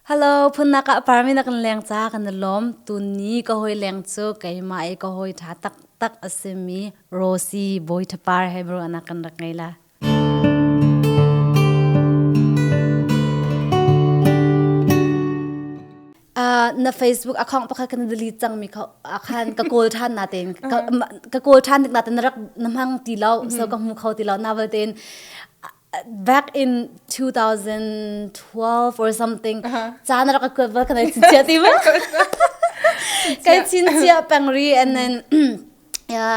Hello, phunnak ah parmi na kan leng ca kan lom. Tunni ka hoi leng cu keimah i ka hoi ṭha taktak a simi Rosie Boithapar he bro anak kan rak ngei la. Uh, na Facebook account pakhat kan delete cangmi kha khan ka kawl ṭhan na tein ka kawl ṭhan nik na tein na rak na hmang ti lo so ka hmu kho ti lo na wal tein back in 2012 or something caan rak ka kuat bal ka nei chinchia ti ma kai chinchia pengri and then ya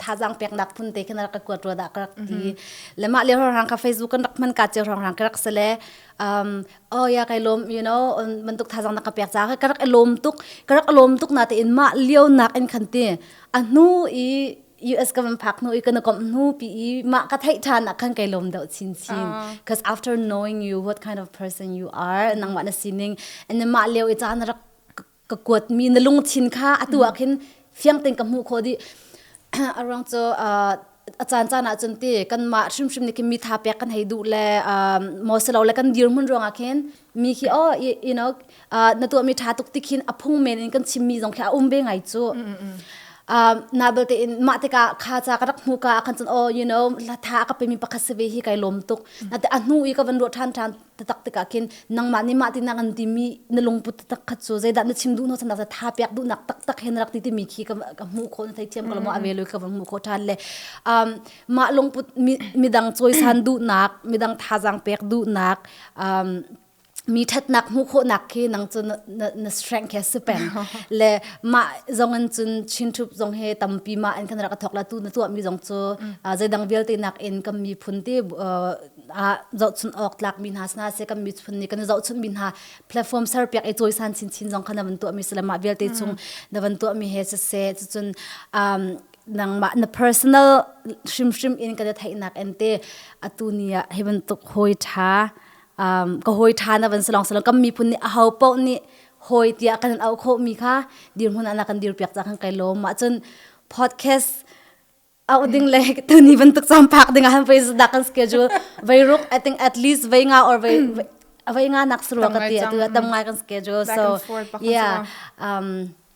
thazang pek nak phun te khana ka kuat ro da ka rak ti lema le hor hang ka facebook kan rak man ka che hong hang ka rak sele um oh ya kai lom you know man tuk thazang na ka pek cha ka rak lom tuk ka rak lom tuk na te in ma liu nak in khan ti anu i US ka van phak hnu i kana komh hnu pi i ma ka theih than nak khan kai lom deuh chin chin because after knowing you what kind of person you are nang wa na sining and then ma leo i caan rak ka kuat mi na lung chin kha atu ah khin fiang tin ka mu kho di around so uh, a caan caan ah cun ti kan mah hrim hrim ni kim mi tha pek kan hei du le um, mo selo le kan dir mun ruanga khin mi khi oh you know uh, na tuahmi ṭha tuk ti khin a phung men in kan chimmi zong khi a um ve ngai cu uh, na belte in mah tikah kha ca ka rak hmu ka khan cun oh you know tha ka pemi pakhat se ve hi kai lom tuk na te a hnu i ka van ruah ṭhan ṭhan tatak tikah khin nangmah nih mah tinak an timi na lungput tatak khat cu zeidah na chim duh no sanak tha piak duhnak taktak hen rak ti timi khi ka hmuh kho na thei thiam ka lamo a velo ka van hmuh kho ṭhan le um, mah lungput midang cawisan duhnak midang thazaang pek duhnak um, mi ṭhatnak hmuh khawhnak khi nang cu na, na, na strength he sipeng le mah zong in cun chinṭhup zong he tampi ma an kan rak thok la tu na tuah mi zong cu uh, zeidang vialte nak in kan miphun ti uh, uh, zohchun awk tlak mi hna sna se kan miphun nih kan zohchun mi hna platform ser piak i cawisan chinchin zong khan na van tuah mi se le mah vialte chung na van tuah mi he se se cun um, nangmah na personal hrimhrim in kan i theihnak em te atu ni ah hi bantuk hawi ṭha um, ka hawi ṭha na van si long si long kan miphun nih a ho paoh nih hawi tiah kan in auh khawhmi kha dirhmun ah na kan dir piak cang kai lawm mah cun podcast auh ding le tuni bantuk champhak ding ah han pei dah kan schedule vai ruk i think at least vai nga or vai vai nga nak suru ka ti atu tam ngai kan schedule so yeah um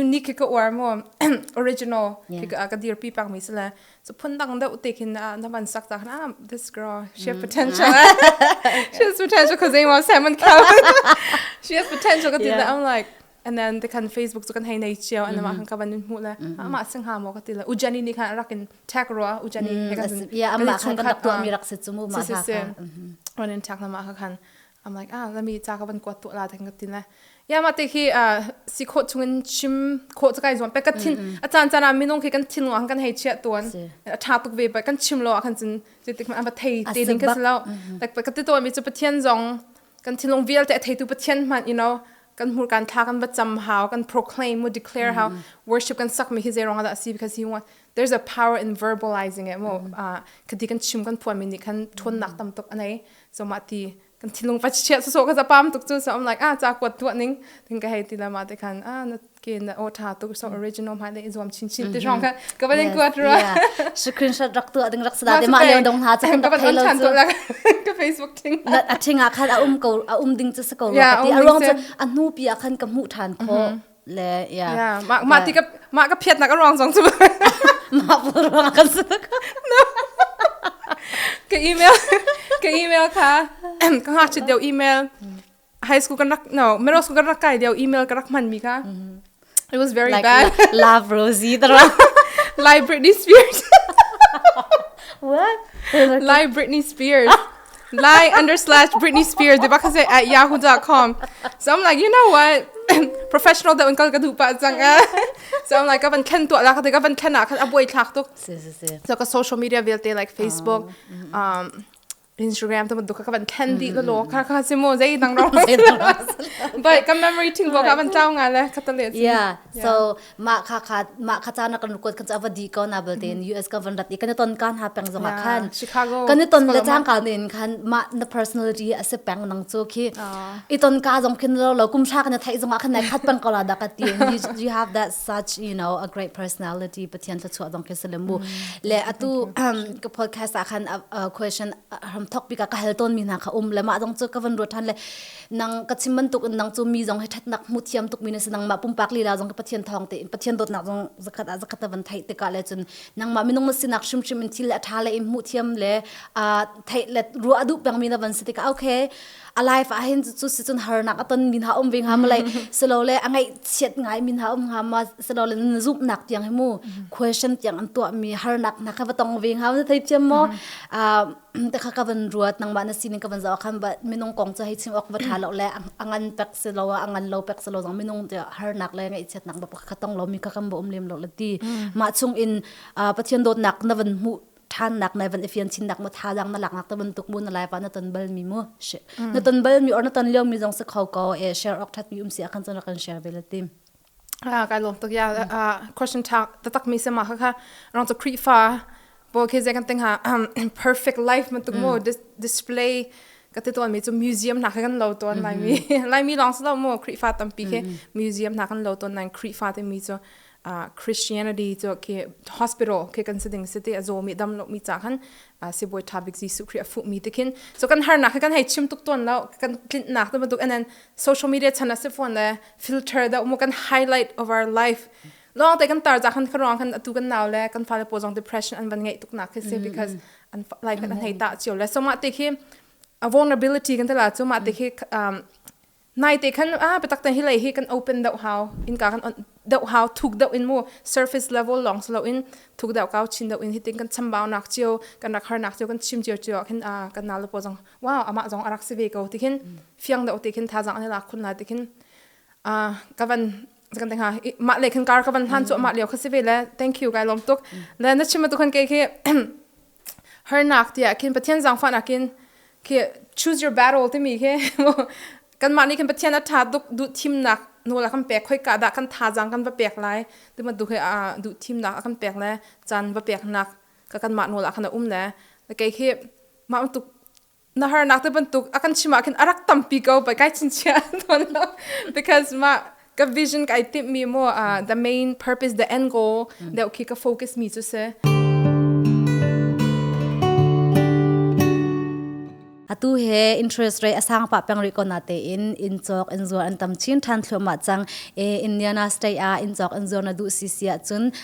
unique khi ka uar mo original khi ka ka dir pi pang mi se le so phun dang deu te khin na man sak ta na this girl she has potential she has potential cuz they want salmon covered she has potential ka ti na i'm like and then they can facebook so kan hei nei chiao and ma kan ka ban mu le ama sing ha mo ka ti le ujani ni kan rakin tag ro ujani he kan yeah ama kan ka to mi rak se chumu ma ka on in tag na ma ka kan I'm like ah let me ca ka van kuat tu la thang ka tin le ya ma te khi a si kho chungin chim kho ca kai zuam pe ka thin a chan chan a minung khi kan thin lo han kan hei chia tuan a tha tuk ve pa kan chim lo kan cin ti tik ma ba thei te ding ka lo tak ka ti to mi chu pathian zong kan thin lung vial te thei tu pathian man you know kan mur kan tha kan bacham how kan proclaim mu declare how worship kan sak mi hi zerong da si because he want there's a power in verbalizing it mo ka di kan chim kan phuan mi ni kan thon nak tam tok anei So ma ti kan thilung ka chiat so ka zapam tuk chu so I'm like ah cha kuat tuah ning tin ka hei ti la ma te khan ah na ke na o tha tuk so original ma le zuam chin chin ti shong ka ka ba ling kuat ro screenshot rak tu ding rak sada de ma le dong ha cha ka thei lo chu ka facebook ting na a thinga khan a um ko a um ding chu se ko ti a rong chu a nu pia khan ka mu than kho le yeah yeah mah mah ti ka mah ka phiat nak a ruang zong cu mah pul ruang kan si ka email ka email kha ka ha chit deu email high school kan rak no middle school kan rak kai deu email ka rak man mi ka it was very like bad love Rosie the like Britney Spears what like Britney Spears Lai underslash Britney Spears di bakha se at yahoo.com. So I'm like, you know what? Professional da un kal ka du pa cang a. So I'm like, ka van khen tua la ka te ka van khen a khan a buai thlak tuk. Si si si. So ka social media vialte like Facebook, um Instagram to duka ka van khen di la lo ka ka si mo zai dang ro. But ka memory thing bo ka van tlaw nga le ka ta le. Yeah. So mah kha kha mah kha caan kan kuat kan cha va di ko na belte in US ka van rat i kan ton kan ha peng zong khan Chicago kan ton le chang ka ne in khan ma na personality a se peng nang chu khi i ton ka zong khin lo lo kum sha kan thai zong khan nai khat pang ko la da ka ti you have that such you know a great personality pathian tha chua dong ke selemu le atu ka podcast a khan question ham thok pi ka hal ton mi na kha um le ma dong chu ka van ro than le nang ka chim bantuk in nang cu mi zong hi ṭhatnak hmu thiam tukmi na si nangmah pumpak lila zong hi Pathian thawng te in Pathian dawtnak zong zakhat ah zakhat van theih tikah le cun nangmah minung na sinak hrimhrim in thil le a ṭha le i hmuh thiam le theih le ruah a duh pengmi na van si tikah okay a life ah hin cu si cun harnak a ton mi hna um ve nga ma lai silo le a ngaih chiat ngai mi hna um nga ma silo le na zumhnak tiang hi mu question tiang an tuah mi harnak hna kha va tong ve nga thei thiam mo takha ka van ruat nangmah na sining ka van zoh khan ba minung kong cu hei chim awk va tha lo le a ngan pek si lo a ngan lo pek si lo zong minung harnak le ngaihchiat nak ba ka tong lo mi ka kan ba um lem lo la ti mah chung in pathian dawtnak na van hmuh thannak na van ifian chin nak ma tha dang na lak nak ta ban tuk mu na lai pa na ton bal mi mu na ton bal mi or na ton leo mi zong se kho ko e share ok that mi um si akhan chana kan share ve la tim Ah kai lawm tuk ya. Ah question tha taktak mi se ma khakha rong cu Khrihfa bo khe je kan tinga perfect life man tuk mo display ka ti tuan mi chu museum na kan lo ton lai mi lai mi long slo mo Khrihfa tampi khe museum na kan lo ton nai Khrihfa te mi chu Christianity chu ke hospital ke kan se ding se te azo mi dam lo mi cha khan se boi thabik Jesu Christ afu mi te khin so kan har na kan hei chim tuk ton lo kan tlint na te ma tuk and then social media chana se phone le filter da mo kan highlight of our life long te kan tar ja khan kharong khan atu kan naw le kan fale po jong depression an van ngei tuk na khi se because an life kan hei ta chiu le so ma te khi a vulnerability kan tala chu ma te khi nai te khan a petak te hi lei hi kan open dau how in ka kan dau how thuk dau in mu surface level long so in thuk dau kaw chin dau in hiting kan chambau nak chiu kan rak har nak chiu kan chim chiu chiu khin a kan na lo po jong wow ama jong arak se ve ko ti khin fiang deuh te khin thazang an lak khun lai te khin a kavan kan tenga ma le khan kar kavan hlan chu ma leo khasi ve le thank you kai lom tuk le na chim tu khan ke ke her nak tia khin pathian zang fa na kin ke choose your battle ti mi ke kan ma ni khin pathian atha duk du thim nak no la kan pek khoi ka da kan tha jang kan va pek lai ti ma du ke a du thim nak kan pek le chan va pek nak ka kan ma no la khana um le ke ke ma tuk na harnak te bantuk a kan chim ah khin a rak tampi ko pai kai chincia ton lo because ma ka vision ka ai tip mi mo uh, the main purpose the end goal mm. deu khi ka focus mi chu se atu he interest rate asang pa pang ri kona te in in chok in zuar an tam chin than thlo ma chang e indiana state a in chok in zuar na du si sia chun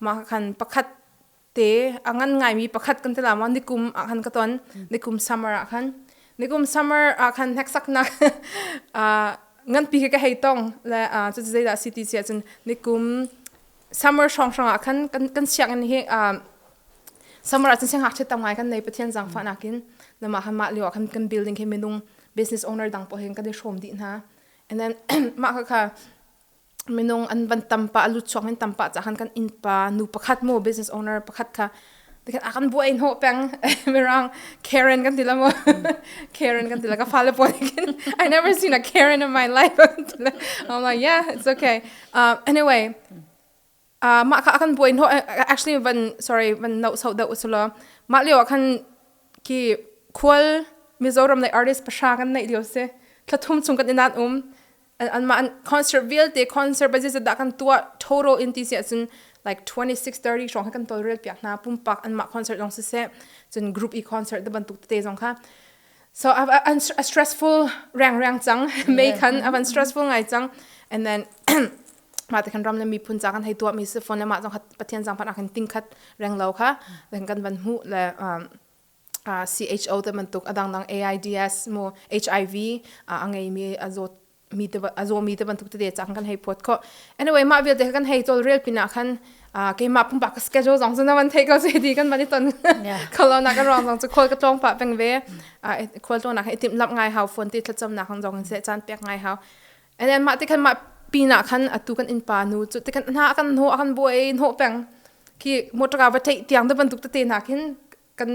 mah khan pakhat te a ngan ngaimi pakhat kan tila ma nikum ah khan ka ton nikum summer ah khan nikum summer ah khan hneksaknak uh, nganpi ke ka hei tong le uh, cu zei da city cia cun nikum summer song song ah khan kan kan siang in hi uh, summer ah cun siang hak tam ngai kan nei pathian jang fa nakin lama han ma liwa khan kan building ke minung business owner dang po hen kan i shom di na and then ma kha kha minung an van tampa a lutchuang in tampa ca han kan innpa nu pakhat mo business owner pakhat kha dikhan a kan buai no peng mirang Karen kan tila mo Karen kan tila ka fale po kin I never seen a Karen in my life I'm like yeah it's okay uh, anyway Uh, mah kha kan buai no actually van sorry van no so deuh usulo mah lio ah khan ki khual mizoram nei artist pasha kan nei lio se thlathum chung kan inan um an an ma an concert vialte concert basis da kan tua thoro in ti se cun like 26 30 shong kan tol rel pia na pumpak an ma concert long se se cun group e concert da bantuk te zong kha so I've, an a stressful rang rang chang may kan avan stressful ngai chang and then mah te khan ram le miphun ca kan hei tuah mi si phone le mah zong pathian zang phan ah khan tingkhat reng lo kha then kan van mu le um, uh, CHO te bantuk adang dang AIDS mo HIV uh, angei mi azot mi te azo mi te bantuk te de chang kan hei phot kho anyway ma vialte kan hei tol real pina khan ke ma pumpa ka schedule zong zuna wan thei ko se di kan bani ton kholo na kan rong zong chu khol ka tong pa peng ve khol to na i tim lap ngai hau phone ti thlacham na kan zong se chan pek ngai hau And then mah tikhan mah pinah khan atu kan innpa nu cu tikhan hna kan hnu a kan buai hnawh peng khi motor ka va theih tiang da bantuk tete na khin kan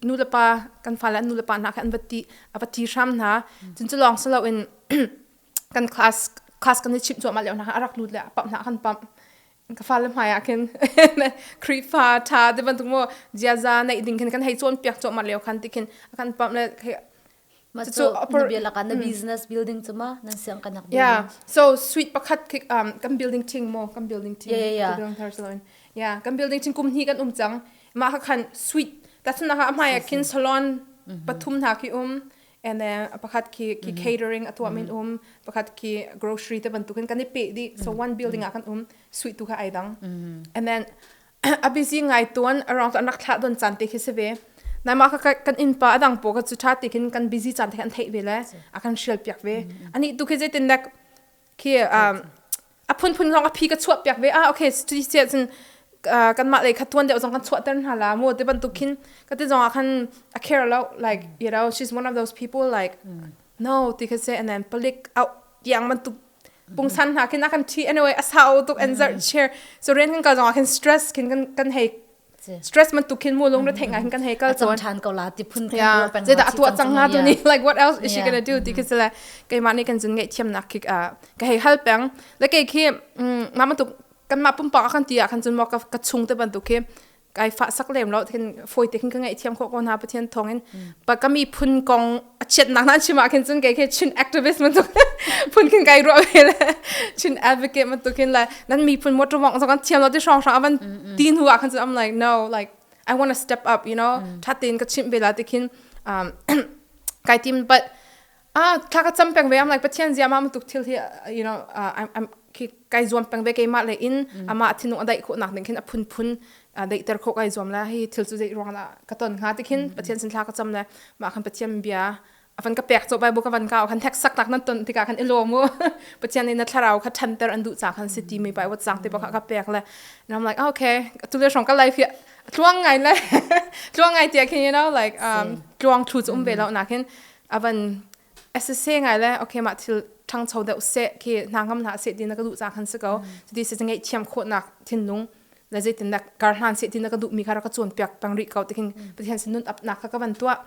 nu le pa kan fa le nu le pa na khin an va ti a va ti hram hna cun cu lawng salo in kan class class kan i chim chuah ma leo na a rak lut le a pap na kan pam ka fa le hmai ah khin krifa tha te bantuk mo jiaza nei ding khin kan hei cawn piak chuah ma leo khan tikhin a kan pam le Cucu nawbia lakah na business building cu ma nan siang kanak building. Yeah. So suite pakhat um kan building thing mo kan building thing. Yeah yeah yeah. Yeah, kan building thing kum hni kan um cang. Ma ha khan suite tatun ha hmai khin salon pathum na ki um and then pakhat ki ki catering atwa min um pakhat ki grocery te bantukin kan i pe di so one building a kan um suite tu ka aidang and then a busy ngai tuan arong tu an rak thlah don caan te khi si ve naima ka kan innpa adang po ka cu tha ti khin kan busy caan te kan thei ve le a kan hrial piak ve ani tu khi jaitin lek khi a phun phun rong a phi ka chuah piak ve ah okay tu che cun kan mah lei kha tuan deuh zong kan chuah ter hna la mu te bantuk khin ka te zong a khan a care lo like you know she's one of those people like no ti kha se and then palik out yang man tu pungsan hna khin a kan ṭhi anyway a sau tuk and zarh chair so ren kan kal zongah khin stress khin kan kan hei stress man tuk khin mu lung re thei nga khin kan hei kal chon a than ko la ti phun thei yeah je da atu chang nga tu ni like what else is she gonna do ti khin sele kai ma ni kan zun ngai thiam nak khik a ka hei hal peng le kai khi ma ma tuk kan ma pumpang akan ti a kan chun mo ka ka chung te ban tu khi kai fa sak lem lo thin foi te ka ngai thiam kho ko na pathian thong in pa kami phun kong a chiat nak nan chima khin chun kai khe chin activist man tu phun khin kai ro ve chin advocate man tu khin la nan mi phun motor wong so kan thiam lo ti shrong shrong avan tin huwa khan I'm like no like I want to step up you know thatin ka chim bela ti khin um kai team but Ah thla ka cam peng ve am like Pathian zia ma matuk thil hi you know uh, I'm, I'm khi kai zuam peng ve keimah le in mm. ama thinung adaih khu nak ning khin aphun phun dei ter kho kai zuam la hi thil chu dei ruang la ka ton nga tikhin mm. Pathian sin thla ka cam le ma khan Pathian bia avan ka pek cho bai bu ka van ka khan thek sak nak nan ton tika khan ilo mu Pathian in na thlarau kha than ter an du cha khan city mi bai wat sang te ba ka pek le and I'm like okay tu le shong ka life hi tluang ngai le tluang ngai tia khin you know like um tluang thu chu um ve lo na khin avan asese ngai le okay mah thil ṭhangcho deuh seh khi hna ngam hna seh ti na ka duh ca khan si ko cuti si ngai thiam khawhnak thinlung le zeitin dak kar hlan seh ti na ka duh mi kha rak ka cawn piak peng rih ko tikin pathian sin nun apnak kha ka van tuah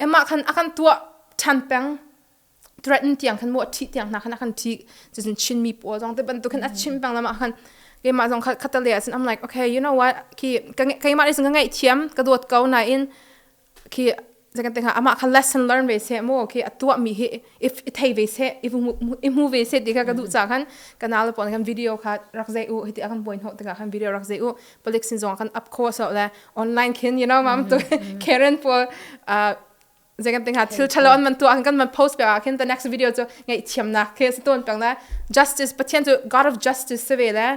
emah khan akan tuah ṭhan peng threaten tiang khan mo ṭhi tiang hna khan akan ṭhi cucun chinmi paw zong te bantuk khan a chim peng lama khan keimah zong khatale ah cun I'm like okay you know what khi ka keimah nih cun ka ngaih thiam ka dawt ko nain khi zekan tenga ama kha lesson learn ve se mo khi atua mi hi if i thei ve se i mu ve se ti ka du cha khan kanal pon kan video kha rak zai u hiti akan boin ho tika khan video rak zai u polik sin zong kan up kho so le online khin you know mam tu karen po zekan tenga thil thalo an man tu an kan man post pe a khin the next video chu ngai thiam na ke se ton pang na justice pathian chu god of justice se ve le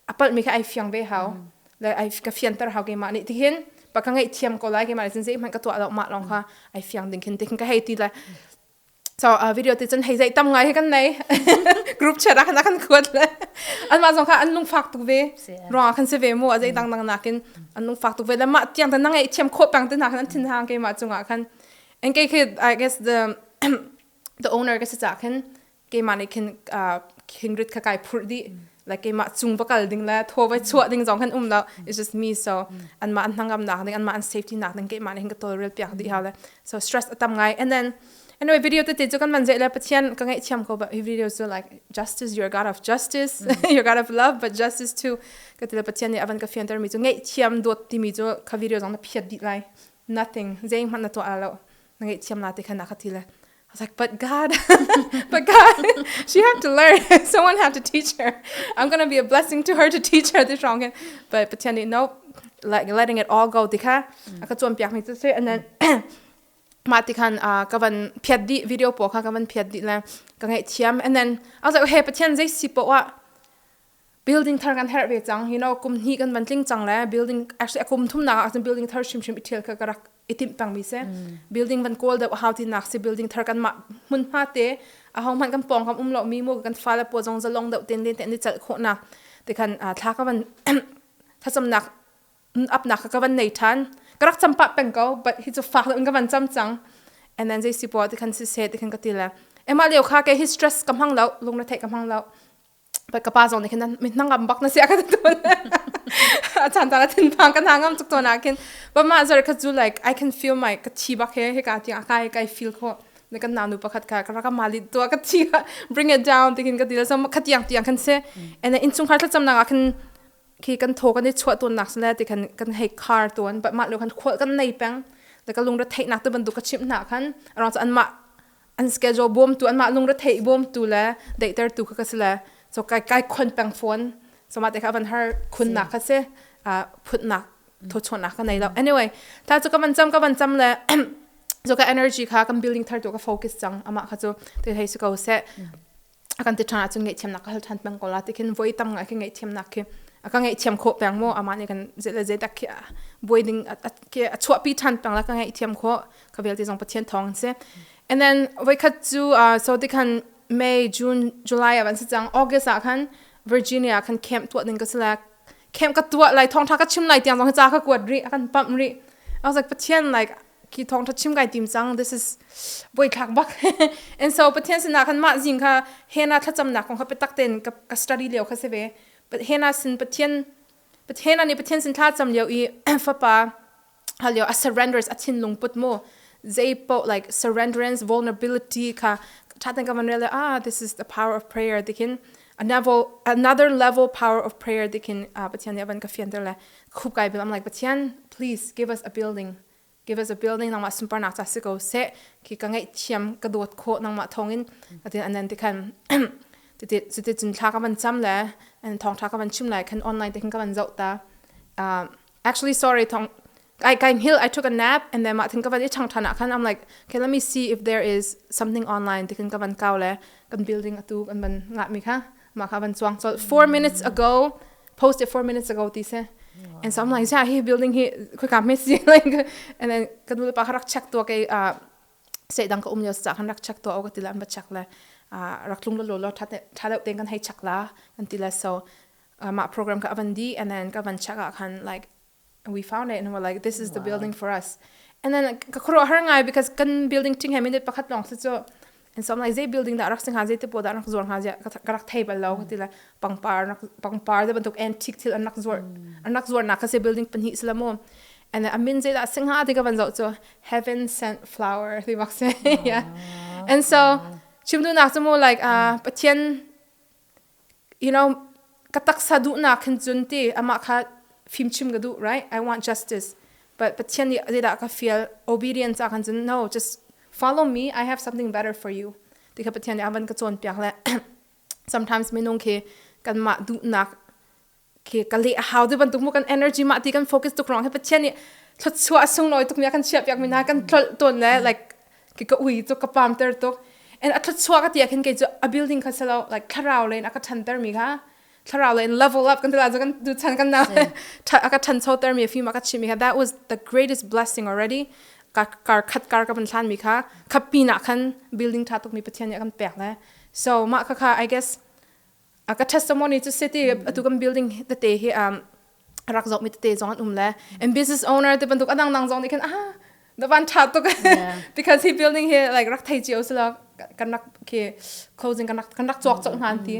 a palhmi kha ai fiang ve hau le ai ka fianter hau keimah nih tihin pa ka ngeih thiam ko lai keimah nih cun zeihmanh ka tuah lo mah lawng kha ai fiang ding khin tihin ka hei ti le so uh, video te cun hei zei tam ngai he kan nei group chat ah na kan kuat le an mah zong kha an lung fak tuk ve ruang kan se ve mu a zei dang dang nakin an lung fak tuk ve le mah tiang tan na ngeih thiam khawh pang te na kan thin hang keimah cungah khan and kei khi i guess the the owner ka si cha khin keimah nih khin kindred kha kai phurh dih like keimah cung va kal ding le thaw vai chuah ding zong kan um lo it's just me so an mah an hnangam nak ding an mah an safety nak ding keimah nih hin ka tawlrel piak dih hau le so stress atam ngai and then anyway video te te chu kan man je le pathian ka ngai thiam ko ba video chu like justice you're god of justice you're god of love but justice too ka tile pathian nih avan ka fianter mi chu ngai thiam dot ti mi chu kha video zong na phiat dih lai nothing zeng hman na to alo na ngaihthiam la ti khan akha ti le I was like, but God, but God, she have to learn. Someone have to teach her. I'm gonna be a blessing to her to teach her this wrong. And but Pathian nih nope, like letting it all go tikha aka chuan piak mi chu se and then ma ti khan ka van phiat di video po kha ka van phiat di le ka ngai thiam and then I was like okay Pathian zei si po wa building thar kan herh ve cang you know kum hnih kan van tling cang le building actually akum thum nak ah cun building thar hrimhrim ithil kha ka rak itim pang mi se building van kawl deuh hau ti nak si building thar kan mah mun hma te a hong man kan pong kam um lo mi mu kan fa le po jong zalong deuh ten len ten ni chal kho na te khan thla ka van thasam nak up nak ka van nei than karak champa peng ko but hi chu fa in ka van cham chang and then jay si po ti khan si se ti khan ka tile ema leo kha ke hi stress kam hang lo lung na thei kam hang lo ka pa zong nih khin mi hnangam bak na sia ka tun a chan ta thin phang kan hangam chuk tona khin but ma zar ka zu like i can feel my ka thi bak he he ka ti akai kai feel ko ne kan nanu pakhat ka ka ka mali to ka thi ka bring it down tingin ka dil so khat yang tiang khan se and in chung khar tla cham na khan khi kan tho kan chwa ton nak sle ti khan kan hei car ton but ma lo khan khol kan nei peng da ka lung ra thei nak to ban du ka chim na khan around an ma an schedule bawmtu anmah lungretheih bawmtu le daihtertu kha ka si le so kai kai khon peng fawn so mate kha van har khunnak kha si phutnak thochunak ka nei lo anyway ta chu ka man cham ka van cham le so ka energy kha kan building thar tu ka focus chang ama kha chu te thei su ko se a kan ti ṭhan ahcun ngaihthiamnak ka hal ṭhan peng ko la ti khin voi tam ngai khi ngaihthiamnak khi a ka ngaihthiam khawh peng maw amah nih kan zei le zeidak khi buai ding khi a chuahpi ṭhan peng la ka ngaihthiam khawh ka vialte zong Pathian thawng an si and then voikhat cu so ti khan May June July a van si cang August ah khan Virginia khan camp tuah ding ka si la camp ka tuah lai thawngṭha ka chim lai tiang zong ca ka kuat rih a kan pamh rih I was like Pathian like khi thong tha chim kai tim cang this is boi thlak bak and so pathian sina khan ma jing kha hena thlacam nak kong kha petak ten ka, ka study leo kha seve hena sin pathian hena ni pathian sin thla cham leo i fapa halio a surrenders a thin lung put mo zay po like surrenderance vulnerability kha thatan ka man rele ah this is the power of prayer dikin another another level power of prayer dikin uh, pathian ne ban ka fian tele Khup kai I'm like Pathian please give us a building give us a building nangmah sunpar nak cha si ko se ki ka ngai thiam ka dawt kho nangmah thongin atin anan ti khan titi titi cun thla ka van cham le and thong tha ka van chim lai khan online te khan ka van zau ta uh, actually sorry thong I came here I took a nap and then ma thing ka van i chang thana khan I'm like okay let me see if there is something online ti khan ka van kaw le kan building atu kan van nga mi kha mah kha van chuang col 4 minutes ago post it 4 minutes ago ti se and so I'm like yeah he building he khui ka me si like and then ka nu le pa rak check to ke se dang ka um yo sa kan rak check to o ka tilan ba check la rak tlung lo lo tha tha le ten kan hei check la kan tila so ma program ka avan di and then ka van check a khan like and we found it and we're like this is the building for us and then ka khro har ngai because kan building ting he minute pakhat long se cho and so I'm like they building that rak sing ha ze te po da rak zor ha je ka rak thei bal lo ka ti la pangpar rak pangpar de bantuk antique thil anak zor anak zor na ka se building pan hi islamo and then amin ze da sing ha te ka van zo cho heaven sent flower ti mak se yeah and so chimdu nak chu mo like uh pathian you know, ka taksa duhnak hin cun ti amah kha fimchim ka duh, right? I want justice. But Pathian nih zeidah ka fial obedience ah khan cun no, just follow me, I have something better for you. Ti kha Pathian nih a van ka cawnpiak le sometimes minung khi kanmah duhnak khi ka le a hau ti bantuk mu kan energy ma ti kan focus tuk rong he pathian nih thlutsua a sunglawi tuk mi kan chia piak mi na kan tlol ton le like ki ka ui tu ka pam ter tuk and a thlutsua ka tia khin kei chu a building kha selo like thlarau le in aka than ter mi kha thlarau le in level up kan tila kan du chan kan na aka than cho ter mi film aka chi mi kha that was the greatest blessing already ka kar khat kar ka ban thlan mi kha khapi na khan building tha tuk mi pathian ya kan pek le so ma kha kha i guess a ka ṭhat somoni cu city atu kan building tete hi um rak zok mi tete zong an um le and business owner te bantuk adang dang zong nih khan ah da van ṭha tuk because hi building hi like rak thei cio sila kan rak ke closing kan rak kan rak chok chok hnan ti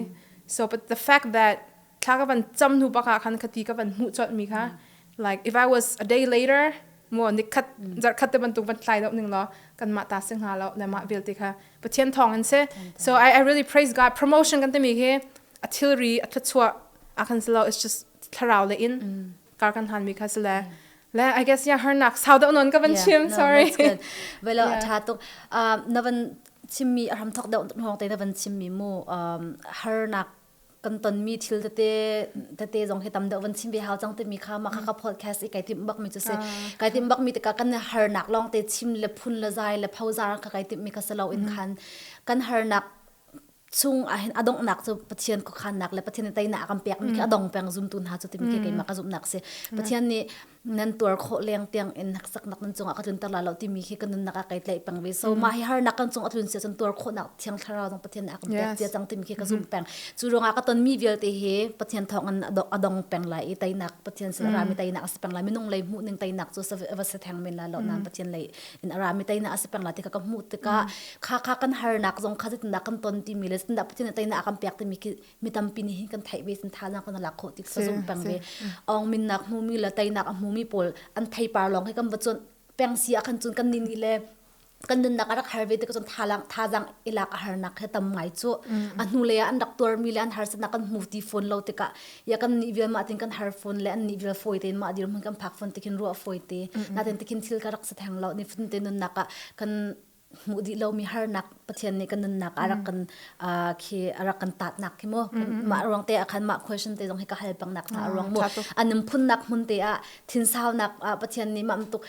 so but the fact that thla ka van cham hnu baka khan khati ka van mu chot mi kha like if I was a day later mo ni khat jar khat te bantuk ban thlai dau ning lo kan ma ta sing ha lo le ma vel te kha Pathian thawng in si so I, I really praise God promotion kan timi hi a thilri a thluachuah a kan selo it's just thlarau le in kar kan han mi kha sile le I guess yeah her nak sau deuh non ka van chim sorry well a tha tuk na van chimmi a ram thok deuh hong te na van chimmi mu har nak kan tonmi thil tete tete zong hi tam deuh van chim ve hau cang timi kha maka ka podcast i kai tim bak mi cu si kai tim bak mi tikah kan harnak lawng te chim le phun le zai le phozar ka kai tim mi ka selo in khan kan harnak chung ahin adongnak cu pathian ko khannak le pathian teinak akan pek mi khi adong peng zum tu hna cu timi khi keima ka zumnak si pathian nih nan tuar khawh leng tiang in hneksak nan cungah ka tlunter la lo timi khi ka nunnak ah kai tlaih peng ve so mah hi harnak kan cungah tlun sia cun tuar khawh nak thiang thlarau dong pathian a kan pek cia cang timi khi ka zum peng cu ruangah ka ton mi vialte hi pathian thawng in adong peng lai i tainak pathian sin ra mi tainak a si peng lai minung lei hmuh ning tainak cu va se theng men la lo nan pathian lei in ara mi tainak a si peng lai ti ka hmuh tikah kha kha kan harnak zong kha zetinda kan ton timi le zetinda pathian tainak a kan pek timi khi mi tampi nih hin kan theih ve thannak kan lak khawh tik sazum peng ve ong min nak hmu mi le tai nak a hmu mi pawl an thei par long he kan bachon peng si akhan chun kan ni ni le kan nun nak arak har ve te chon thalang thazang ilak a har nak he tam ngai chu a hnu le an rak tor mi le an har sana kan mu ti phone lo te ka ya kan ni vil ma tin kan har phone le an ni vil phoi te ma dir mun kan phak phone te khin ru phoi te na ten te khin thil ka rak sa theng lo ni phun te nun nak kan hmuh dih lomi harnak Pathian nih kan nunnak a rak kan uh, khi a rak kan tatnak khi mu mah ruang te ah khan mah question te zong hi ka hal pang nak ta ruang mu anum phunnak hmun te ah thinsaunak Pathian nih mam tuk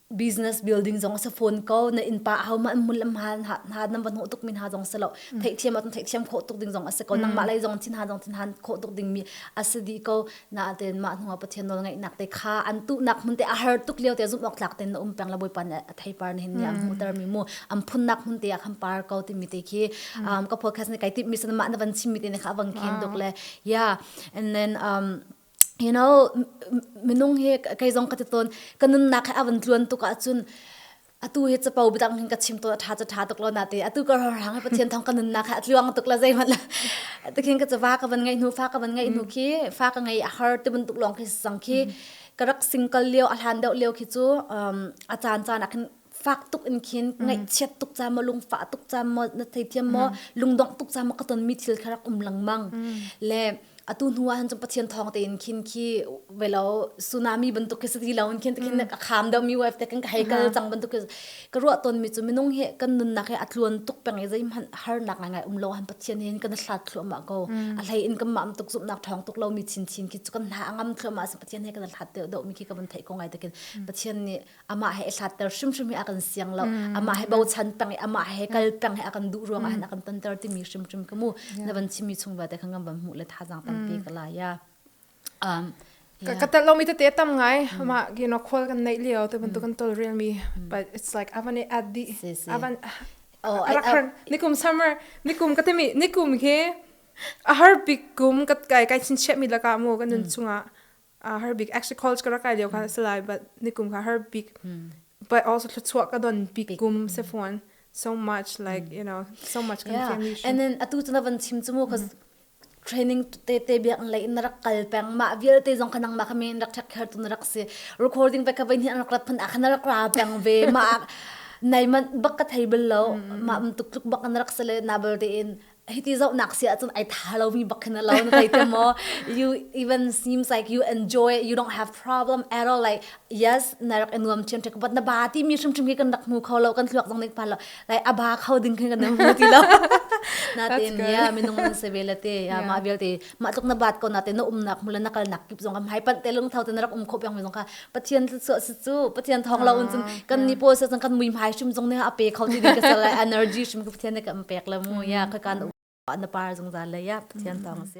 business building zong se phone ko na in pa hau ma mun lam ha ha na van ho tuk min ha zong se lo thei thiam atun thei thiam kho tuk ding zong ase ko nang ma lai zong thin ha zong thin han kho tuk ding mi ase di ko Natein mah hnuah Pathian nawlngeihnak te kha an tuhnak hmun te a har tuk lio te zumh awk tlak tein na um peng la bawipa nih a theipar ni hin am hmuhter mi mu am phunnak hmun te ah khan par ko timi te khi ka podcast ni kai tip mi sana mah na van chim mi te ne kha avang khin duk le yeah and then um you know minung hi kai zong ka te ton ka nunnak he avan tluan tuk ahcun atu hi capo budang hin ka chim to tha cha tha tuk lo na te atu ka rang hang pathian thong ka nun na kha atluang tuk la zei man la ta khin ka chava ka ban ngai nu fa ka ban ngai nu khi fa ka ngai a har te bun tuk long khi sang khi ka rak single liu a hlan deu liu khi chu a chan chan akhin fak tuk in khin ngai chiat tuk cha mo lung fa tuk cha mo na thei thiam mo lung dong tuk cha mo ka ton mi thil kharak um lang mang le atu hnu ah cun pathian thawng tein khin khi velo tsunami bantuk khi sati lo in khin ta khin mm. kham deuh mi wave te kan ka hei kal cang bantuk ka ruah ton mi chu minung he kan nunnak he atluan tuk peng i zei man har nak ngai ngai um lo han pathian hin kan hlat thlu ma ko a hlei in kan mam tuk zum nak thong tuk lo mi chin chin khi chu kan na angam thlu ma sa pathian he kan hlat deuh deuh mi khi ka ban thei ko ngai takin pathian nih amah he hlatter hrimhrim hi a kan siang lo mm. amah he bochan peng i amah he kal peng he a kan duh ruang ah mm. a kan tonter timi hrimhrim ka mu na van chimi chung ba te khan kan van mu le tha jang tampi ka la ya um ka tel lo mi te te tam ngai ma you know khol kan nei leo te ban tu kan tol real mi but it's like avan at the avan oh nikum summer nikum ka temi nikum he a har big kum ka kai kai chin che mi laka mu kan nun chunga uh, her big actually calls ka rakai leo ka mm. salai but nikum ka her big mm. but also thluchuah ka don big gum se phone so much like mm. you know so much confusion yeah. and then atu tu na van chim chu mo cause training te te bia an lei na rak kal peng ma vial te zong khanang ma khame rak thak kher tu na rak se recording pa ka bain hi an rak phan akhna rak ra peng ve ma nei man bak ka thei bel lo ma um tuk tuk bak an rak sele na bal de in hiti zohnak si ahcun ai tha lomi bak khin a lo na zei te maw you even seems like you enjoy you don't have problem at all like yes na rak i nuam thiam tek but na ba ti mi hrim hrim hi kan rak hmu kho lo kan thluak zong nik phan lo like a ba kho ding khin kan hmu ti lo natin yeah minung se ve le te yeah ma vialte mah tluk na bat ko na te na umnak hmu le na kalnak kip zong kam hai panh te lungtho te na rak um kho pyang mi zong kha pathian su su pathian thong lo un cun kan ni po sa cun kan mui mai shim zong ne a pe kho ti ka sal energy shim ka pathian ne kan pek le mu ya ka kan na par zong za le ya pathian thong si